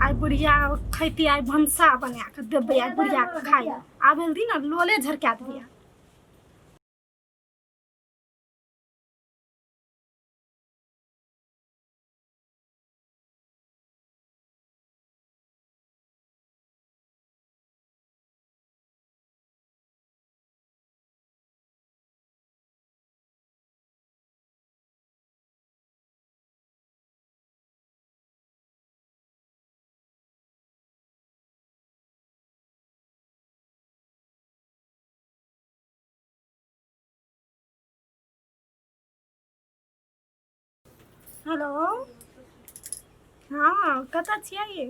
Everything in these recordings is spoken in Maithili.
आइ बुढ़िया खैती आइ भनसा बना कऽ देबै आइ बुढ़िया के खाय आब दिन ने लोले झरका देबै हेलो हँ कतऽ छियै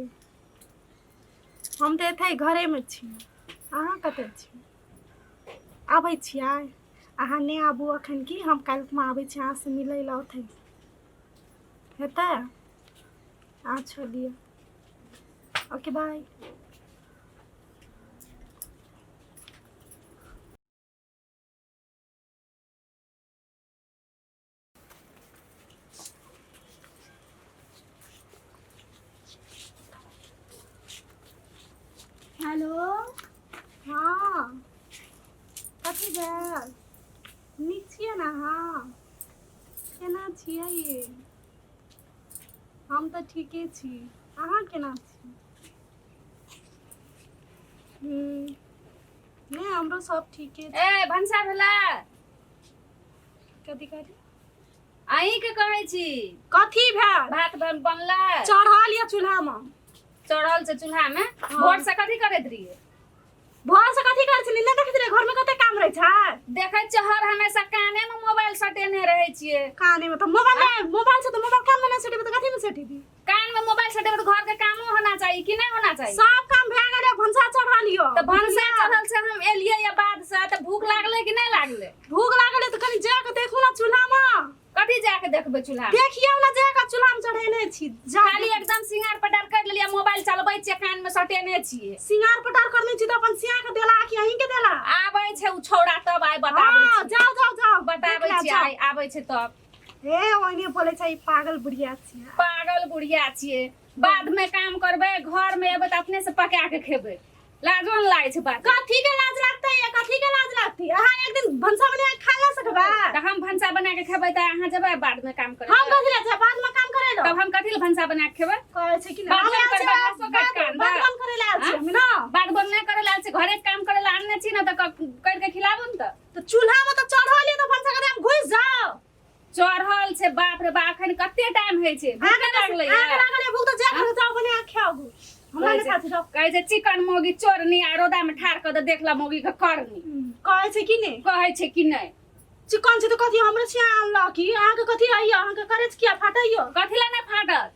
हम तऽ एतै घरेमे छी अहाँ कतऽ छी आबै छियै अहाँ नहि आबू अखन की हम काल्हिमे आबै छी अहाँसँ मिलै लए ओतै हेतै अहाँ छोड़ दियौ ओके बाय हेलो हँ कथी भेल नीक छियै ने अहाँ केना छियै ये हम तऽ ठीके छी अहाँ केना छी हम्म, नहि हमरो सब ठीके छै ए भनसा भेला कथी कहली अहीं के कहै छी कथी भेल भात बन बनला चढ़ल या चूल्हा में चढ़ल से चूल्हा में हाँ। भोर से कथी करैत रहिए भोर से कथी करै छली नहि देखैत रहे घर में कते काम रहै छै देखै छियै हर हमेशा काने में मोबाइल सटेने रहै छियै काने में तो मोबाइल मोबाइल से तो मोबाइल काम में नहीं सेटेबे तो कथी में सेटेबे कान में मोबाइल से देखो तो घर के कामो होना चाहिए कि नहीं होना चाहिए सब काम भए गेलै भनसा चढ़ा लियो तो भनसा चढ़ल से हम एलिए या बाद से तो भूख लागले कि नहीं लागले भूख लागले तो कनी जाके देखू ना चूल्हा में कथी जाके देखबे चूल्हा देखियो ना जाके चूल्हा में चढ़ेने छी खाली एकदम सिंगार पटार कर लिया मोबाइल चलबै छी कान में सटेने छी सिंगार पटार करने छी तो अपन सिया के देला कि अहीं के देला आबै छै उ छौड़ा तब आइ बताबै हाँ, छी जाओ जाओ जाओ बताबै छी आइ आबै छै तब हे ओने बोले छै ई पागल बुढ़िया छियै पागल बुढ़िया छियै बाद में काम करबे घर में एबे त अपने से पका के खेबे लाजो न लागे छै बात कथी के लाज लागतै या कथी के लाज लागतै अहाँ एक दिन भनसा बना के खा ला सकबा त हम भनसा बना के खेबे त अहाँ जेबे बाद में काम करे हम कथी ला छै बाद में काम करे लो तब हम कथी ले भनसा बना के खेबे कहै छै कि बाद में करबा घासो काट के अनबा। बात करे ला छै हम ना बाद बन नहीं करे लाल से घरे के काम करे ला अन्ने छी ना त क- कर के खिलाबो न त तो चूल्हा में तो चढ़ल है तो भनसा करे हम घुस जाओ चढ़ल छै बाप रे बाप एखन कते टाइम होइ छै भूख आग लागलै आग है लागल है भूख तो जा घर जाओ बने आ खाओ गो हमरा कहै ने छै- खाती रहो कहै छै चिकन मोगी चोरनी आ रौदा में ठार कऽ दे देखला मोगी के करनी कहै छै कि नहीं कहै छै कि नहि चिकन छै तो कथी हमरे छिया आनला की अहाँ के कथी आइयो अहाँ के करे छै किया फाटैयो कथी लए नहि फाटत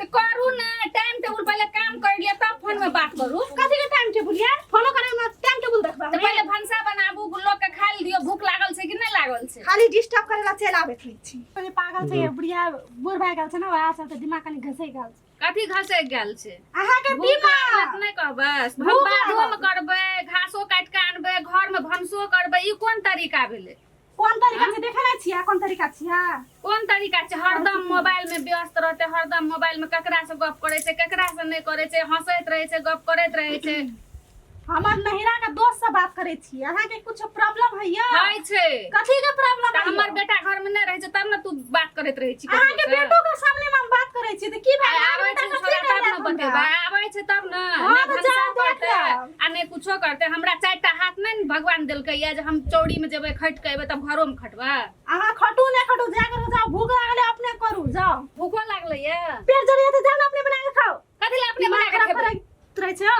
तो करू ना टाइम टेबल पहले काम कर लिया तब फोन में बात करू कथी के टाइम टेबल यार फोनो करे में टाइम टेबल देखबा तो पहले भंसा बनाबू लोग के खा लियो भूख लागल छै कि नहीं लागल छै खाली डिस्टर्ब करे ला चल आबे थी छी पहले पागल छै बुढ़िया बूढ़ भाई गल छै ना वहां से तो दिमाग कनी घसै गल छै कथी घसे गेल छै अहाँ के भूख बीमा लागत नहीं कहबै भूख भंसा लागल। धोम करबै घासो काट के आनबै घर में भंसो करबै ई कोन तरीका भेलै कोन तरीका हाँ? से देखे ना छिया कोन तरीका छिया कोन तरीका से हरदम मोबाइल में व्यस्त रहते हरदम मोबाइल में ककरा से गप करे से ककरा से नहीं करे से हंसत रहे से गप करत रहे से हमर नहिरा का दोस्त से बात करे छी अहा के कुछ प्रॉब्लम है या है छे कथि के प्रॉब्लम है हमर बेटा घर में नहीं रहे छै तब न तू बात करत रहे छी अहा के बेटो के सामने में बात करे छी त की भाई आवे छै तब न बतेबा आवे छै तब न ना भनसा आ नहि कुछो करतै हमरा चारि टा हाथ नहि ने भगवान देलकैए जे हम चौड़ीमे जेबै खटि कऽ एबै तब घरोमे खटबै अहाँ खटू नहि खटू जा करू जाओ भूख लागले अपने करू जाओ भूखो लागलैए पेट जरिया तऽ जाओ ने अपने बना के खाओ कथी लए अपने बना के खेबै तुरै छ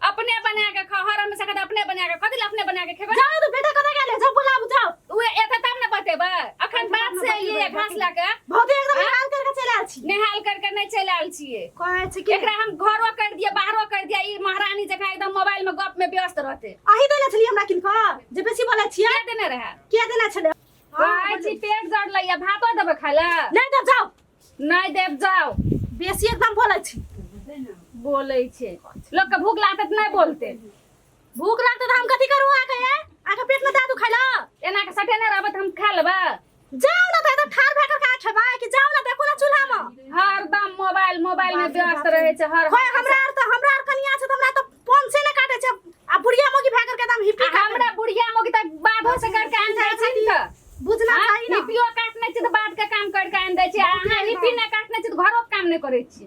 अपने बना के खाओ हर हमेशा कहते अपने बना के कथी लए अपने बना के खेबै जाओ तो बेटा कतऽ गेलै जाओ बुलाबू जाओ उहे एते तब ने बतेबै अखन बात से एलियै घास लए के भौजी एकदम हाँ? निहाल करके चलि आयल छी नेहाल करके नहीं चलि आयल छियै कहै छी कि एकरा हम घरो कर दिए बाहरो कर दिए ई महारानी जकाँ एकदम मोबाइल में गप में व्यस्त रहते अही देने छलियै हमरा किनकर जे बेसी बोलै छियै के देने रहे के देने छलै कहै छी पेट जड़ लैया भातो देबै खाय लए नहि देब जाउ नहीं देब जाओ बेसी एकदम बोलै छी बोलै छै लोकके भूख लागतै तऽ नहि बोलतै भूख लागते त हम कथी करू आके ए आके पेट में दादू खाइला एना के सटे ना रहबे त हम खा लेबा जाओ ना त एकदम ठार भाकर का छबा कि जाओ ना देखो ना चूल्हा में हरदम मोबाइल मोबाइल में व्यस्त रहे छै हर होय हमरा आर त हमरा आर कनिया छै त हमरा त फोन से ना काटे छै आ बुढ़िया मोगी भाकर के एकदम हिपी आ हमरा बुढ़िया मोगी त बाबो से कर के आन जाय छै त बुझना हाँ, चाही ना हिपियो काटने छै त बात के काम कर के आन दै छै अहाँ हिपी ना काटने छै त घरो के काम नै करै छी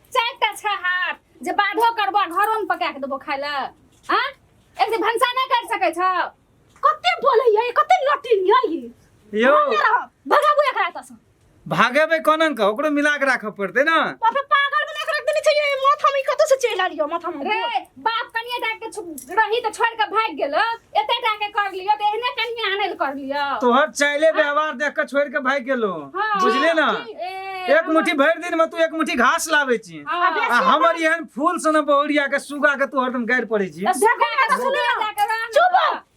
चारिटा छह हाथ जे बाढ़ो करबो घरो में पका के देबो खाय ले हां एक दिन भंसा नहीं कर सके छ कते बोले ये कते नटी ये ये यो भगाबू एकरा त से भागे बे कोनन का ओकरो मिला के राखे पड़ते ना बाप रे पागल बना के रख देने चाहिए माथा में कतो से चला लियो माथा में रे बाप कनिया टा के छु- रही तो छोड़ के भाग गेल एते टा के कर लियो तो एहने कनिया आनल कर लियो तोहर चाइले व्यवहार देख के छोड़ के भाग गेलो हाँ। बुझले ना ए, एक मुट्ठी भर दिन में तू एक मुट्ठी घास लावे छी हाँ। आ हमर एहन फूल सन बहुरिया के सुगा के तू हरदम गाड़ पड़े छी अब देखो ना तो सुनो जाके रह चुप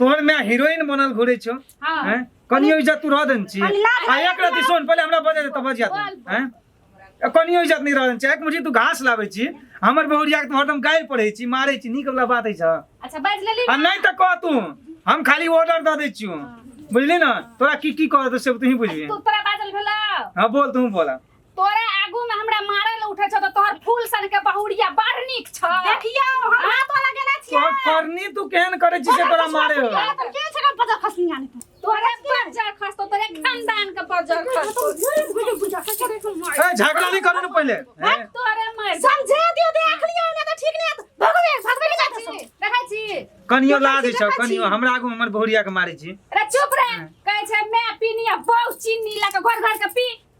तोहर मैं हीरोइन बनल घुरे छो हाँ। हैं कनियो इज्जत तू रह देन छी हम लाज आ एक रति सुन पहले हमरा बजे दे तब बजिया तू बोल। हैं ए, कनियो इज्जत नहीं रह देन छी एक मुठी तू घास लाबै छी हमर बहुरिया के तू हरदम गाय पढ़ै छी मारै छी नीक वाला बात है छ अच्छा बाज ले ली आ नहीं त कह तू हम खाली ऑर्डर द दै छी बुझली ना तोरा की की कह दे से तू ही बुझबी तो तोरा बाजल भेला हां बोल तू बोला तोरे आगू में हमरा मारे ले उठे छ त तोहर फूल सन के बहुरिया बड़ नीक छ देखियो हम हाथ वाला गेला छियै तोहर करनी तू केहन करे छी से तोरा मारे हो तोरा तर के छका पता खसनी आने पर तोरे बजर खस्तो तोरे खानदान के बजर खस्तो ए झगड़ा नहीं करे न पहले ए, तोरे मर समझे दियो दे आख लियो ना त ठीक नै त भगवे भगवे जा छी देखै छी कनियो लाज देखै छी, छ देखै कनियो छी। हमरा आगू में हमर बहुरिया के मारे छी रे चुप रे कहै छै मैं पीनी आ बहु चीनी ला के घर घर के पी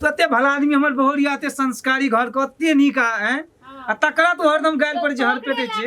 तो एते भला आदमी हमर बहुरिया एते संस्कारी घर के एते नीक आ हैं आ तकरा तो हरदम गाल पर जहर पेटे छे